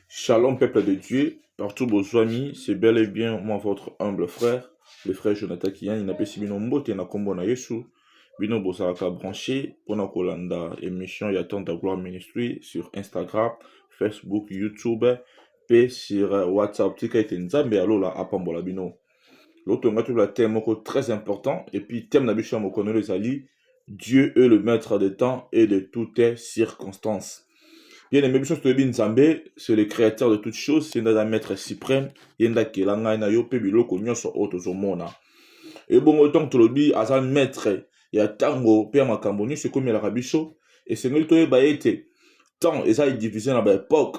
Shalom peuple de Dieu, partout bozwami, c'est bel et bien moi votre humble frère, le frère Jonathan Kiyani napesi bino mbote na kombo na Yesu. Bino bozalaka branché pona kolanda émission ya Temps de Gloire Ministry sur Instagram, Facebook, YouTube pe sur WhatsApp. Tika ete Nzambe ya lola apambola bino. Lotonga tola thème moko très important et puis thème na biso ya mokolo ezali Dieu est le maître de temps et de toutes circonstances. Bien aimé, biso toyebi Nzambe, c'est le créateur de toutes choses, c'est un maître suprême, yenda kela ngai na yo pe biloko nyonso oyo tozomona. Et bongo tant que tolobi aza maître ya tango pe ya makambo nyonso ekomelaka biso, esengeli toyeba ete temps eza divisé na ba époque,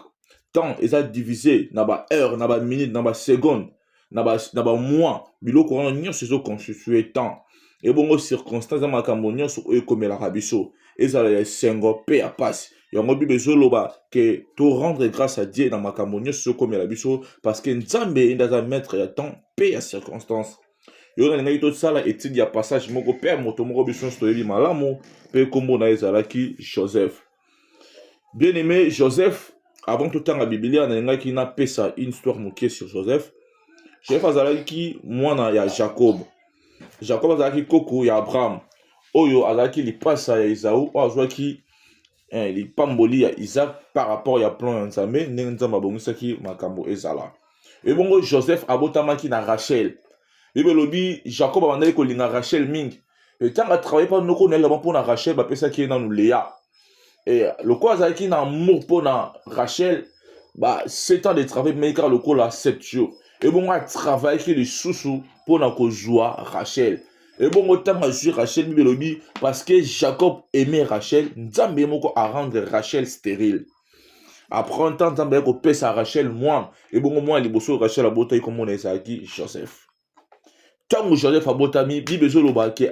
temps eza divisé na ba heure, na ba minute, na ba seconde. na ba na ba mois biloko wana nyonso ezo constitue temps ebongo circonstance ya makambo nyonso oyo ekomelaka biso ezala ya esengo mpe ya mpasi yango bible ezoloba ke to rendre grâce à dieu na makambo nyonso ezokomela biso parce que nzambe ye nde aza maître ya temps mpe ya circonstance yo nalingaki tosala etide ya passage moko mpe ya moto moko biso nyonso toyebi malamu mpe nkombo na ye ezalaki joseph bien aimé joseph avant totanga biblia nalingaki napesa une histoire moke sur joseph joseph azalaki mwana ya jacob jacob azalaki koko ya abraham oyo azalaki lipasa ya ezau oyo azwaki eh, lipamboli ya isaac par rapport ya plan ya nzambe ndenge nzambe abongisaki makambo ezala ebongo joseph abotamaki na rachel bible elobi jacob abandaki kolinga rachel mingi e, ntango atravaille mpa noko na ye laba mpo na rachel bapesaki ye nanu lea e, lokola azalaki na amour mpo na rachel ba 7 ans de travail bimaki kaka lokola 7 jours ebongo atravayaki lisusu mpo na kozwa rachel ebongo ntango azwi rachel bible elobi parce que jacob aime rachel nzambe ye moko arendre rachel stérile après ntan nzambe ayaki kopesa rachel mwana ebongo mwana liboso rachel abotaki komona ezalaki joseph ntango joseph abotami bible ezoloba ke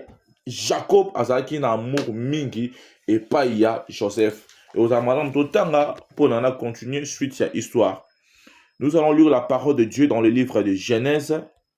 jacob azalaki na amour mingi epai ya joseph ekozala malamu totanga mpona na continuer suite ya histoire nous allons lire la parole de dieu dans le livre de genèse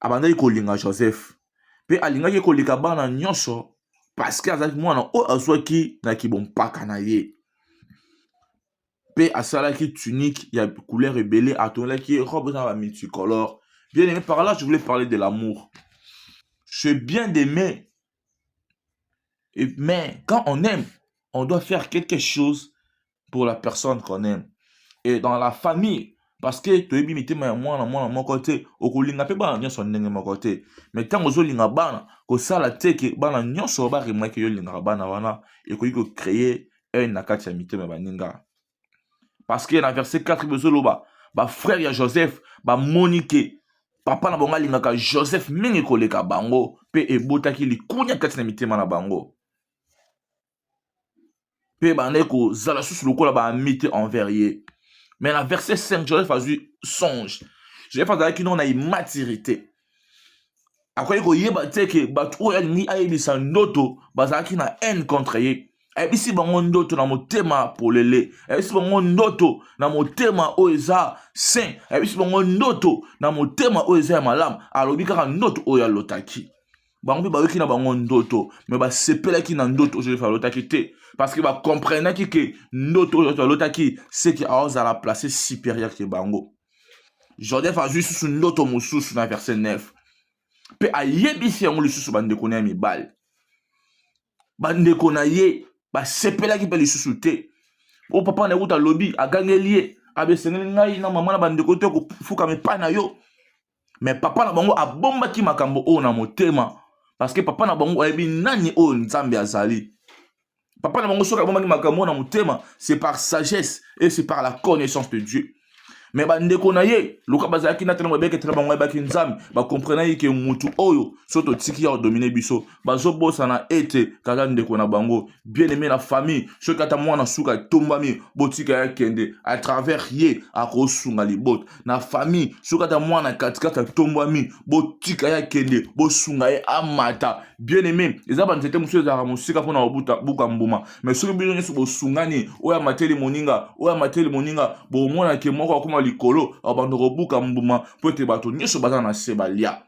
abandaki kolinga joseph mpe alingaki koleka bana nyonso paske azalaki mwana oyo azwaki na kibompaka na ye mpe asalaki tunique ya couleur ebele atongelaki ye robe eza na bamulticolore bien aimé par là je voulais parler de l'amour c'est bien d'aimer mais quand on aime on doit faire quelque chose pour la personne qu'on aime et dans la famille parce que toyebi mitema ya mwana mwana moko te okolinga mpe bana nyonso ndenge moko te mais ntango ozolinga bana kosala te ke bana nyonso baremake yo olingaka bana wana ekoki kocreye haine na kati ya mitema ya baninga parce que na verset 4 bozoloba bafrère ya joseph bamoni ke papa na bango alingaka joseph mingi koleka bango mpe ebotaki likunya kati na mitema na bango mpe bandaki kozala susu lokola baamite envers ye mais na verset 5 joseph azwi songe joseph azalaki noko na immaturité akoki koyeba te ke bato oyo alingi ayebisa ndoto bazalaki na haine contre ye ayebisi bango ndoto na motema polele ayebisi bango ndoto na motema oyo eza saint ayebisi bango ndoto na motema oyo eza ya malamu alobi kaka ndoto oyo alotaki bango mpe bayoki na bango ndoto me basepelaki na ndoto oyo josefe alotaki te parce que bacomprenaki ke ndoto oyo alotaki seke aozala place supérieure ke bango joseph azwi lisusu ndoto mosusu na verset 9 mpe ayebisi yango lisusu bandeko na ye mibali bandeko na ye basepelaki mpe lisusu te o papa na ye kuta alobi agangeli ye abeseneli ngai na mama na bandeko te kofukama epai na yo me papa na bango abombaki makambo oyo na motema parce que papa na bango ayebi nani oyo nzambe azali Papa na bango soki abomaki makambo na motema, c'est par sagesse et c'est par la connaissance de Dieu. Mais bandeko na ye loka bazalaki na ntango babeketela bango ayebaki nzambe bakomprenaki ke mutu oyo so totiki ya kodomine biso bazobosana ete kaka ndeko na bango bien aime na famille soki ata mwana suka etombami botika ya kende à travers ye akosunga libota na famille soki ata mwana katikati atombwami botika ya kende bosunga ye amata bien aime eza banzete mosusu ezalaka mosika mpona kobuta buka mbuma mais soki bino nyonso bosungani oyo amateli moninga oyo amateli moninga bokomonake moko akoma likolo abanda kobuka mbuma mpo ete bato nyonso baza na se balia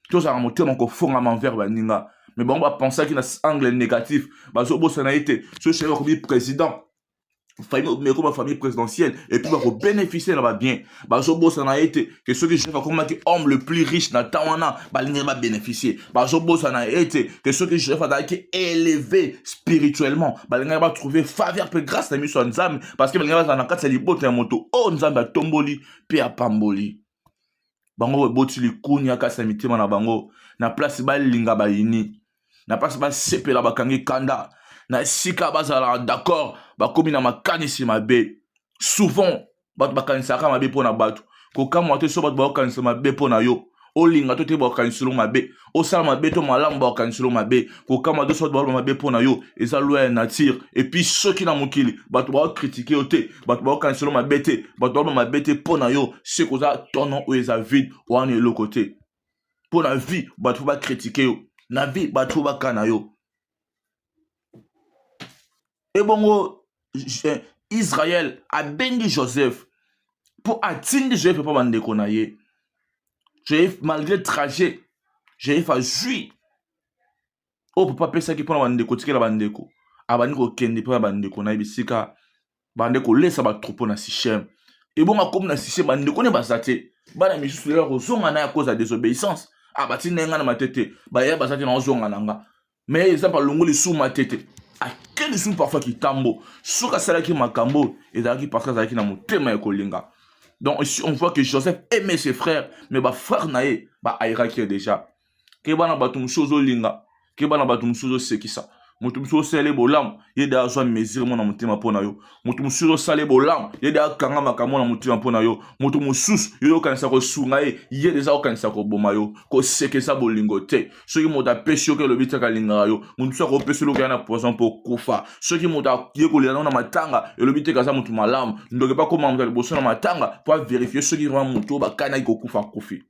tozala motema kofongama envers baninga me bango bapensaki na angle négatif bazobosana ye te so sheri bakomi président meko bafamille présidentielle epuis bakobénéficie na babien bazobosana ye te ke soki jef akomaki homme le plus riche na temps wana balingaki babénéficie bazobosana ye te ke soki jef azalaki élevé spirituellement balingaki batrouve faveur mpe grâce na miso ya nzambe parce que balingaki bazala na kati ya libota ya moto oyo nzambe atomboli mpe apamboli bango baboti likunya kati na mitema na bango na place balinga bayini na place basepela bakangi kanda na esika bazalaka d'accord bakomi na makanisi mabe souvent bato bakanisaka mabe mpo na bato kokamwa te so bato bakokanisa mabe mpo na yo olinga to te bakokanisa elongo mabe osala mabe to malamu bakaniselo mabe kokama doso bato baloba mabe mpo na yo eza loi ya nature epuis soki na mokili bato bakokritike yo te bato bakokaniselo mabe te bato baloba mabe te mpo na yo se koza tono oyo eza vide wana eloko te mpo na vie bato fo bakritike yo na vie bato fo bakana yo ebongo israel abengi joseph mpo atindi joseph epa bandeko na ye joseph malgré trajet joseph azwi oyo papa apesaki mpo na bandeko tikela bandeko abandi kokende mpo na bandeko na ye bisika bande kolesa batroupo na sichem ebongo akomi na sichem bandeko ne baza te bana misusu lelo akozonga na ye akoza desobéissance abatindi ah, ye ngai na matete baya baza te naozonga na nga mais eza mpe alongoli lisusu matete ake lisusu parfois kitambo soki asalaki makambo oyo ezalaki parce que azalaki na motema ya kolinga donc ici on voit que joseph aimait ses frères mais bafrère na ye baairaki ye déjà keba na bato mosusu ozolinga keba na bato mosusu ozosekisa moto mosusu osali bolamu ye de azwa mesure mona motema mpo na yo moto mosusu osali bolamu ye de akanga makambo na motema mpo na yo moto mosusu yo okanisa kosunga ye ye deja okanisa koboma yo koseka eza bolingo te soki moto apesi yo ke elobi tiaka alingaka yo moto mosusu akopesi loka na poison mpo okufa soki moto aye kolela nao na matanga elobi te kaza moto malamu ndoki mpe akoma moto ya liboso na matanga mpo averifie soki rima moto oyo bakanaki kokufa akufi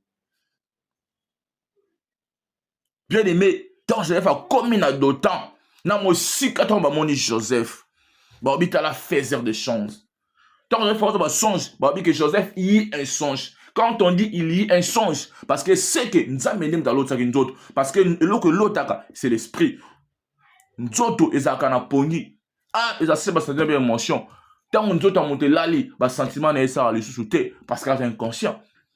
bien aimé ntango joseph akomi na dotan na mosika ntango bamoni joseph baobi tala faiser de chance Tant que force ba songe, ba dit que Joseph y un songe. Quand on dit il y un songe, parce que c'est que Nzambe nde mutu alotaki nzoto, parce que eloko elotaka c'est l'esprit. Nzoto ezalaka na pongi. Ah, eza se ba sentir bien émotion. Tant nzoto ya moto elali, ba sentiments na ye esala lisusu te, parce que aza inconscient.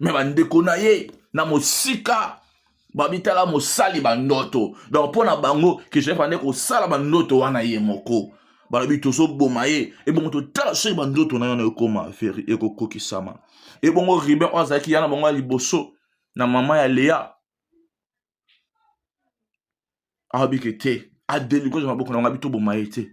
me bandeko na ye na mosika babitala mosali bandoto donc mpo na bango ke joseph ande kosala bandoto wana ye moko balobi tozoboma ye ebongo totala soki bandoto na yo na ekoma veri ekokokisama ebongo riben oyo azalaki yana bango ya liboso na mama ya lea alobi ke te adelikoza maboko na yango abi toboma ye te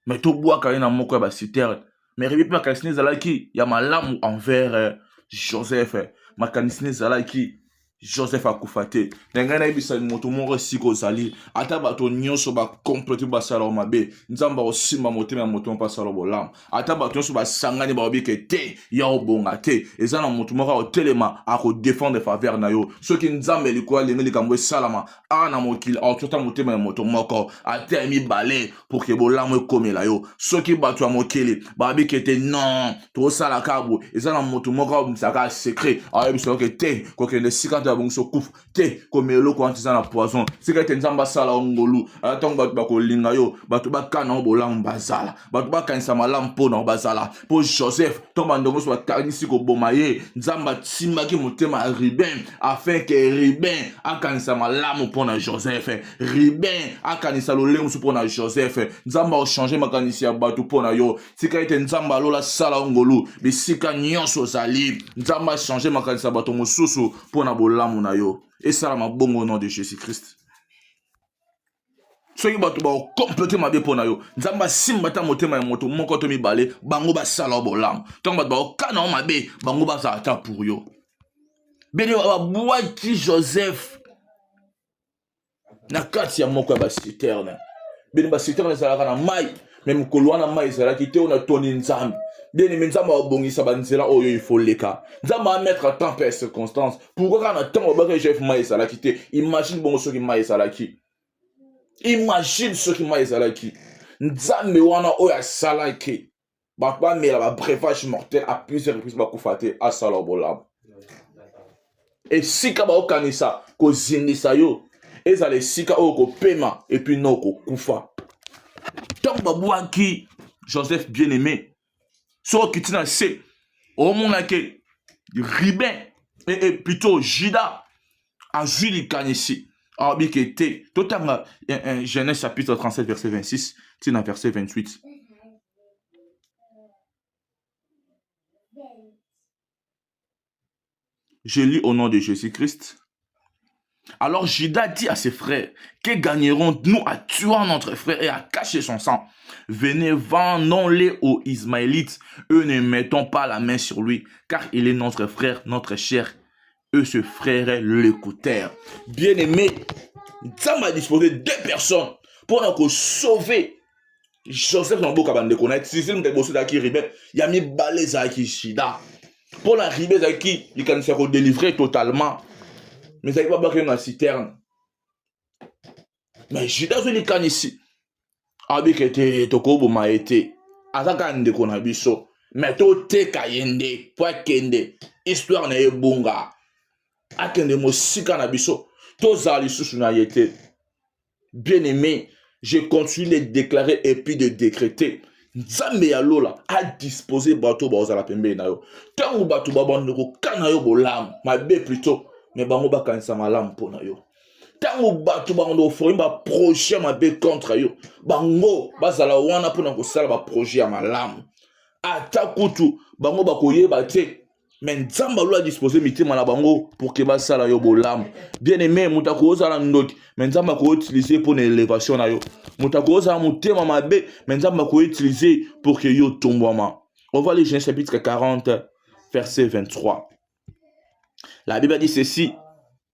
me tobwaka ye na moko ya basiterne me rebi mpe makanisi na ezalaki ya malamu envers eh, joseph eh. makanisi na ezalaki joseph akufa te na ngai nayebisa moto moko esika ozali ata bato nyonso bakomplote basalao mabe nzambe akosimba motema ya moto mpe asala bolamu ata bato nyonso basangani baobi ke te ya obonga te eza na moto moko akotelema akodefendre faveur na yo soki nzambe likolo alingi likambo esalama awa na mokili akotyota motema ya moto moko ata ya mibale pour ke bolamu ekomela yo soki bato ya mokili babi ke te non tokosala kabo eza na moto moko aobimisaka secret aoyebisa yo ke te kokende esika nto yabongisi okufa te komela eloko wana eza na poison sika ete nzambe asala yo ngolu ata ntango bato bakolinga yo bato bakana yo bolamu bazala bato bakanisa malamu mpo na yo bazala mpo joseph ntango bandongo nyonso bakanisi koboma ye nzambe atimbaki motema ya ruben afin ke ruben akanisa malamu mpo na joseph ruben akanisa lolenge mosusu mpo na joseph nzambe akochange makanisi ya bato mpo na yo tika ete nzambe alola asala yo ngolu bisika nyonso ozali nzambe achange makanisi ya bato mosusu mpo na bolamu na yo esalama bongo nom de jésus christ soki bato bakokomplete mabe mpo na yo nzambe asimba ata motema ya moto moko to mibale bango basala yo bolamu ntango bato bakokana yo mabe bango bazala ata pour yo bene babwaki joseph na kati ya moko ya basiterne bino basiterne ezalaka na mai me mokolo wana mai ezalaki te oyo natoni nzambe bien-aime nzambe abongisa banzela oyo ifo leka nzambe amettre temps mpe circonstance pourkoi kaka na ntango babaka egf mai ezalaki te imagine bongo soki mai ezalaki imagine soki mai ezalaki nzambe wana oyo asalaki bato bamela ba breuvage mortel à plusieurs reprises bakufa te asala bolamu esika baokanisa kozindisa yo ezala esika oyo kopema epuis no kokufa ntango babwaki joseph bien aimé soki okiti na se omonake ribin e, e, plutôt juda azwi likanisi alobi ke te totanga eh, eh, genèse chapitre 37 verset 26 ti na verset 28 je lis au nom de jésus-christ alors Judas dit à ses frères, que gagnerons-nous à tuant notre frère et à cacher son sang Venez, vendons-les aux Ismaélites, eux ne mettons pas la main sur lui, car il est notre frère, notre cher eux se frère l'écouteur. Bien aimé, ça m'a disposé deux personnes pour nous sauver Joseph na boka bande ko na Cécile mpe boso daki ribe ya mibale ezalaki shida mpo na ribe ezalaki likanisi ya kodelivre totalement mais ezalaki babaki na citerne mais juda azwi likanisi abika ete tokoboma ye te aza kaka ndeko na biso me toteka ye nde mpo akende histoire na ye ebunga akende mosika na biso tozala lisusu na ye te bien aimé je continue de déclarer et puis de décréter nzambe ya lola adispose bato baozala pembeni na yo ntango bato babanda kokana yo bolamu mabe plutot me bango bakanisa malamu mpo na yo ntango bato bakando koforme baprojet ya mabe contre yo bango bazala wana mpona kosala baprojet ya malamu ata kutu bango bakoyeba te me nzambe alo adispose mitema na bango pour ke basala yo bolamu bien aime moto akozala ndoki me nzambe akoutilize mpo na elevation na yo moto akozala motema mabe me nzambe akoutilize pour ke yo tombwama on va les gens chapitre 40 verset 23 la bible dit ceci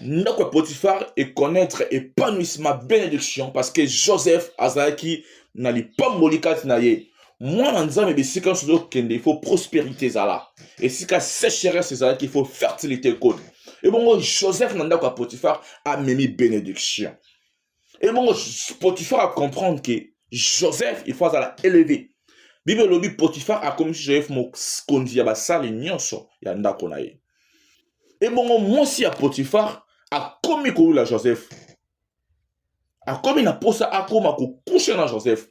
ndako ya potifar econnaître épanouissement bénédiction parce que joseph azalaki na lipamboli kati na ye mwana nzambe bisika nyonso ozokende il faut prospérité ezala esika sécheresse ezalaki il faut fertilité ekota ebongo joseph na ndako ya potifar amemi bénédiction Et bon, Potiphar a comprendre que Joseph, il faut à élever. Bible lobi Potiphar a commis Joseph mokonzi ya basali nyonso ya ndako na ye. Et bon, moi si à Potiphar a commis la Joseph. A commis na posa a koma ko coucher na Joseph.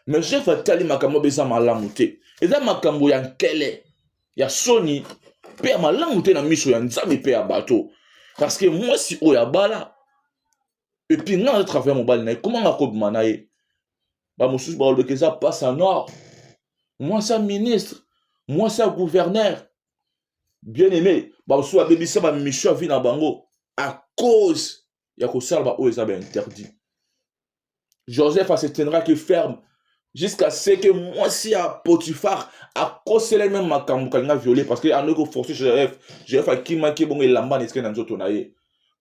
Mais Joseph a tali makambo beza malamu te. Eza makambo ya nkele, ya soni, pe ya malamu te na miso ya Nzambe pe ya bato. Parce que moi si oya bala epuis nga naza travaille mobali na ye koma nga kobima na ye bamosusu balobeka eza pasa nord mwasi ya ministre mwasi ya gouverneur bien aimé bamosusu babebisa bamission ya vie na bango à cause ya kosala baoyo eza bainterdit Joseph se tiendra que ferme jusqu'à ce que mwasi ya potifar akosela ye meme makambo kalinga viole parce que andoki koforce joseph joseph akimaki ebongo elamba na esike na nzoto na ye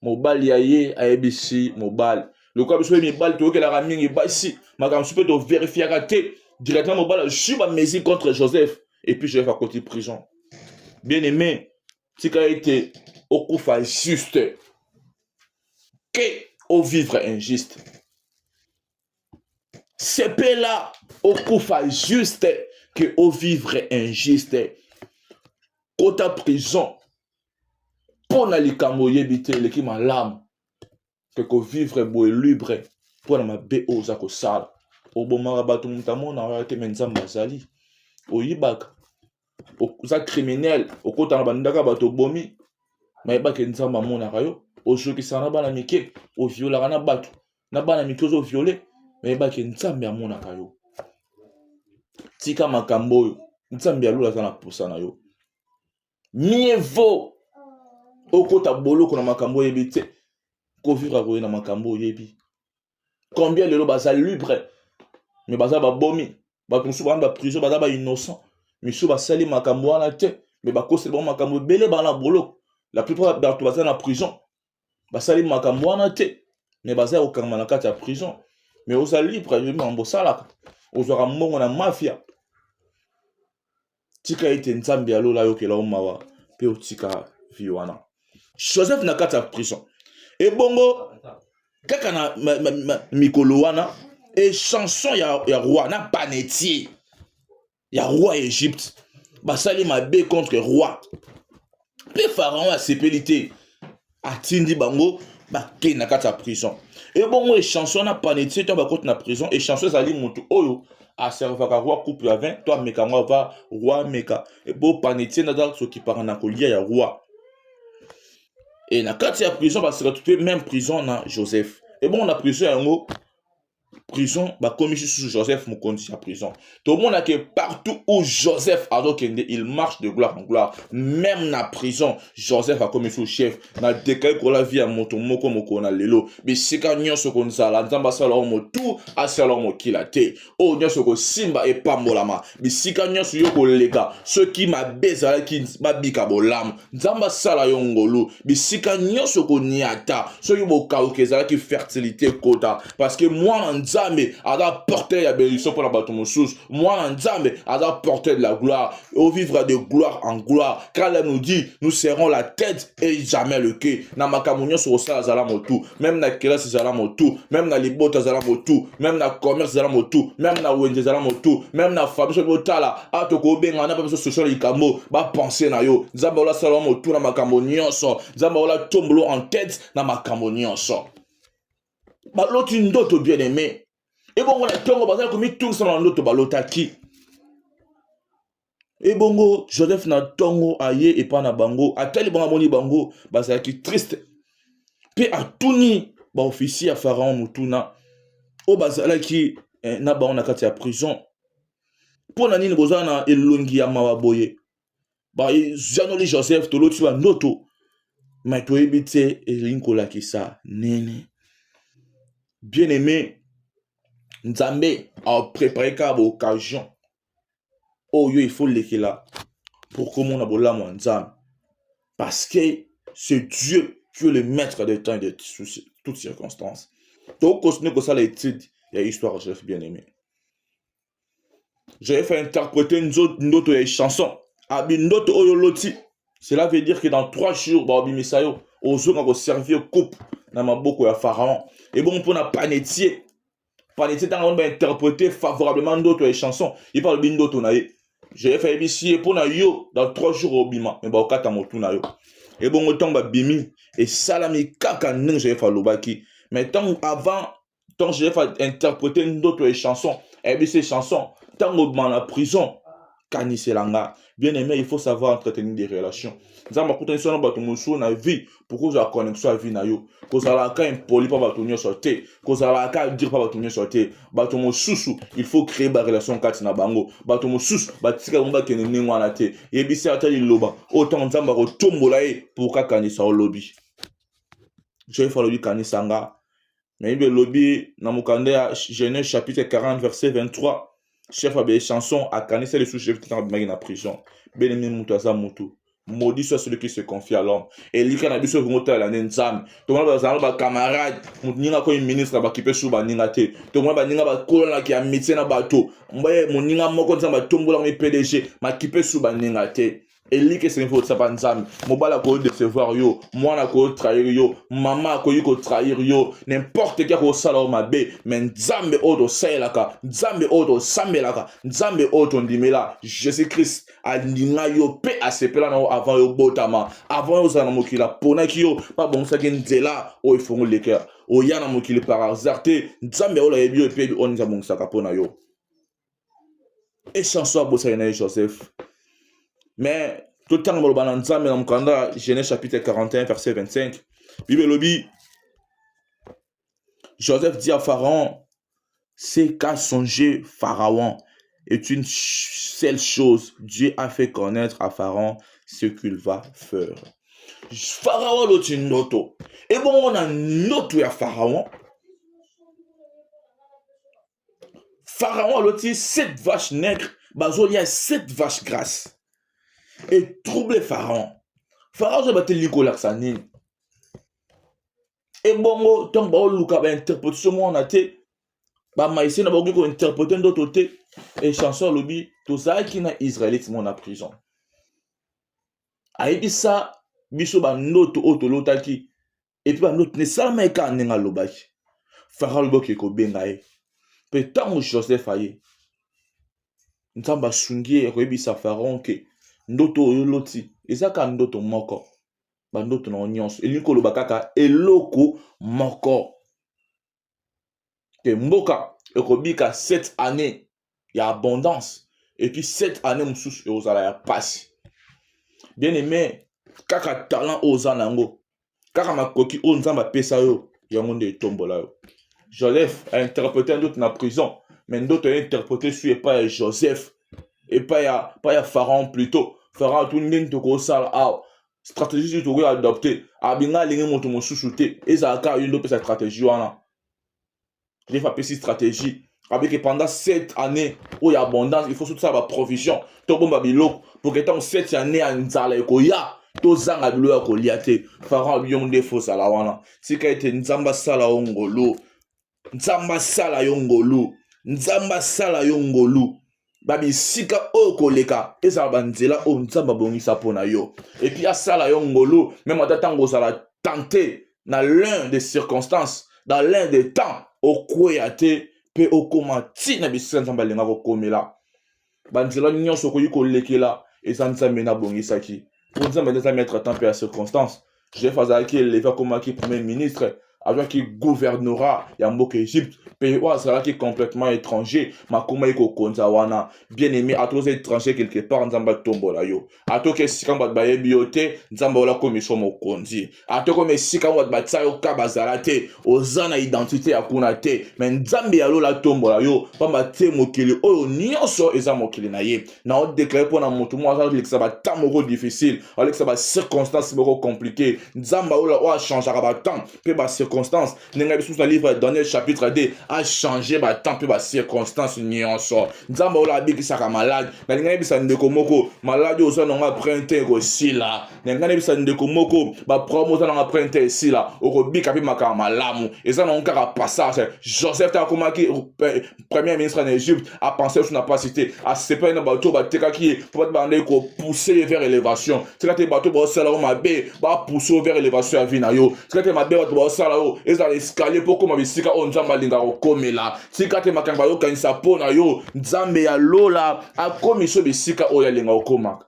mobali ya ye ayebisi mobali lokola biso ye mibali toyokelaka mingi basi makambo mosusu mpe toverifiaka te directement mobali azwi bamesure contre joseph et puis joseph akoti prison bien aimé tika ete okufa juste que ovivre injuste sepela okufa juste que ovivre injuste kota prison mpo na likambo oyebi te eleki malamu ke kovivre boye libre mpo na mabe oyo oza kosala obomaka bato moto amona oyo te me nzambe azali oyibaka oza criminel okota na bandaka bato obomi mayebake nzambe amonaka yo ozokisaka na bana mike oviolaka na bato na bana mike ozoviole mayebake nzambe amonaka yo tika makambo oyo nzambe ya lola aza na mposa na yo mieux vaut okota boloko na makambo oyebi te kovivre koye na makambo oyebi combien lelo baza libre me baza babomi bato mosusu bana baprison baza bainnocent misusu basali makambo wana te me bakoseli bango makambo ebele bana boloko la plupart bato baza na prison basali makambo wana te me baza ya kokangama na kati ya prison me oza libre ayebi makambo osalaka ozwaka mbongo na mafia tika ete nzambe ya lola ayokela yo mawa mpe otika vi wana joseph na kati ya prison ebongo kaka na ma, ma, ma, mikolo wana echanson ya, ya roi na panetie ya roi ya egypte basali mabe contre roi mpe pharaon asepeli te atindi bango bakei na kati ya prison ebongo echanso wana panetie to bakoti na prison echanso ezali motu oyo aservaka roi coupe ya 20 to ameka yango ava roi ameka ebo panetie naza sokipaka na kolia ya roi e na kati ya prison basekatu mpe meme prison na joseph ebongo na prison yango prison bakomisi susu joseph mokonzi ya prison tomona ke partout où joseph azokende il marche de gloire en gloire même na prison joseph akomi susu chef na dekai kola vie ya moto moko mokolo na lelo bisika nyonso konzala nzambe asala yo motu asala yo mokila te oyo nyonso kosimba epambolama bisika nyonso yo koleka soki mabe ezalaki babika bolamu nzambe asala yo ngolu bisika nyonso koniata soki bokauki ezalaki fertilité ekota parceke mwana nzambe aza porteur ya benediction mpo na bato mosusu mwana nzambe aza porteur de la gloire ovivre de gloire en gloire kala nous dit nous serons la tête et jamais le que na makambo nyonso kosala zala motu meme na kelasi zala motu meme na libota zala motu meme na commerce zala motu meme na wenze zala motu meme na famille soki botala awa tokobenga na biso sosio na likambo bapense na yo nzambe olasala motu na makambo nyonso nzambe ola tombolo en tête na makambo nyonso baloti ndoto bien aimé ebongo na ntongo bazali komitungisa na ndoto balotaki ebongo joseph na ntongo aye epai na bango atali bango amoni bango bazalaki triste mpe atuni baofisier ya pharaon motuna oyo bazalaki eh, na bango na kati ya prison mpo na nini boza na elongi ya mawa boye bajanoli joseph toloti bandoto mai toyebi te elingi kolakisa nini bien aimé nzambe aprepareka baoccasion oyo il faut lekela pour komona bolamu ya nzambe parce que c'est dieu qui est le maître de temps et de toutes circonstances tokokontinue kosala étude ya histoire joseph bien aimé j'avais fait interpréter ndoto ya chanson abi ndoto oyo oloti cela veut dire que dans trois jours baobimisa yo ozoka koservir coupe na maboko ya pharaon ebongo mpo na panetie paletier ntango amoni bainterprete favorablement ndoto ya chanson ye mpe alobi ndoto na ye jf ayebisi ye mpo na yo dans trois jours obima me baokata motu na yo ebongo ntango babimi esalami kaka ndenge jf alobaki mais ntango avant ntango jf ainterprete ndoto ya chanson ayebisi ye chanson ntango obima na prison kanisela nga bien aimé il faut savoir entretenir des relations nzambe akutanisi wana bato mosusu na vie mpo kozala connexion ya vie na yo kozalaka impoli mpa bato nyonso te kozalaka dire mpa bato nyonso te bato mosusu il faut créer barelation kati na bango bato mosusu batika bango bakende ndenge wana te yebisi ata liloba oyo ntango nzambe akotombola ye mpo kakanisa olobi joyfa alobi kanisa nga na bible elobi na mokanda ya genèse chapitre 40 verset 23 chef ya bechanson akanisa lisusu jephte ntango abimaki na prison belemi moto aza motu maudit soit celui qui se confie à l'homme elika na biso ekongo talela nde nzambe tomona bazalanga bacamarade moninga akomi ministre bakipe su baninga te tomona baninga bakolanaki ya mitie na bato moninga moko nzambe atombolaka mi pdg makipe su baninga te eliki esengeli kotisa mpa nzambe mobali akoki decevoir yo mwana akoki trahir yo mama akoki kotrahir yo nimporte ki akosala yo mabe me nzambe oyo tosalelaka nzambe oyo tosambelaka nzambe oyo tondimela jésus christ alinga yo mpe asepela na yo avant yo botama avant yo ozala na mokili aponaki yo mpe abongisaki nzela oyo efongoli lekea oya na mokili par hasard te nzambe oyo ayebi yo epebi oyo nzambe abongisaka mpo na yo echanson abosaki na ye joseph mais totanga maloba na nzambe na mokanda genèse chapitre 41 verset 25 bible elobi joseph dit à pharaon ce qu'a songé pharaon est une seule chose dieu a fait connaître à pharaon ce qu'il va faire pharaon aloti ndoto ebongo na ndoto ya pharaon pharaon aloti cette vache nègre bazolia cette vache grasse et trouble pharaon pharaon azoyeba te lingi kolakisa nini ebongo ntango baoluka bainterpretation mwana te bamaise na bakoki kointerprete ndoto te e chanson alobi tozalaki na israelite mona prison ayebisa biso bandoto oyo tolotaki epuis banoti nesalamaki kaka ndenge alobaki fara alobi oke kobenga ye mpe ntango joseph aye nzambe asungi ye ya koyebisa faron ke ndoto oyo oloti eza kaka ndoto moko bandoto na yo nyonso elingi koloba kaka eloko moko ke mboka ekobika 7 année ya abondance epuis 7 année mosusu ekozala ya mpasi bien aime kaka talent oyo oza na yango kaka makoki oyo nzambe apesa yo yango nde etombola yo joseph ainterprete ndoto na prison me ndoto ainterprete su epai ya joseph epai ya, ya pharaon plutot pharaon atuni ndenge tokosala awa stratégie soki tokoki adopte abinga alingi moto mosusu te ezala kaka yo nde opesa stratégie wana jeff apesi stratégie abike pendant 7 année oyo abondance il faut soki tosala baprovision tobomba biloko poke ntango 7 année ya nzala ekoya tozanga bilo ya kolia te farao yo nde fozala wana tika ete nzambe asala yo ngolu nzambe asala yo ngolu nzambe asala yo ngolu babisika oyo koleka ezala banzela oyo nzambe abongisa mpo na yo epuis asala yo ngolu meme ata ntango ozala tente na l'un des circonstances dans l'un des temps okweya te mpe okoma ntina bisika nzambe alingaka okomela banzela nyonso okoki kolekela eza nzambe nabongisaki mpo nzambe nde eza maître temps mpe ya circonstance joseph azalaki eleve akomaki premier ministre azwaki gouvernorat ya mboka egypte pays oyo azalaki complètement étranger makomaki kokonza wana bien aimé atoza étranger quelque part nzambe atombola yo atoka esika bato bayebi yo te nzambe ola komiso mokonzi atokoma esika bato batia yo ka bazala te oza na identite ya kuna te me nzambe ya lola atombola yo mpamba te mokili oyo nyonso eza mokili na ye na odeklare mpo na moto moko azalekisa batemp moko difficile alekisa bacirconstance moko compliqué nzambe alola oyo achangaka batemp mpe bacirconstance ndenge lisusu na livre ya daniel chapitre 2 achange batemp mpe bacirconstance nyonso nzambe oyo abikisaka malade nalingi nayebisa ndeko moko maladi oyo oza nango apres nte ekosila nalingi nayebisa ndeko moko baproblème oza nango apres nte esila okobika mpe makambo malamu eza nango kaka passage joseph te akomaki eh, premier ministre na egypte apense lisusu na mpasi te asepeli na bato oyo batekaki ye mpo bati bandaki kopousse ye vers élévation tika te bato baosala yo mabe bapousse yo vers élévation ya vie na yo tika te mabe bato baosala yo ezala escalier mpo okóma bisika oyo nzambe alingaka okomela tika te makambo ayokanisa mpo na yo nzambe ya lola akomisi yo bisika oyo alinga okomaka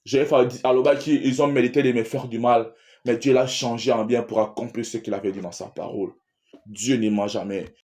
jf alobaki ils ont mérité de me faire du mal mais dieu l'a changé en bien pour accomplir ce qu'il avait dit dans sa parole dieu ne ment jamais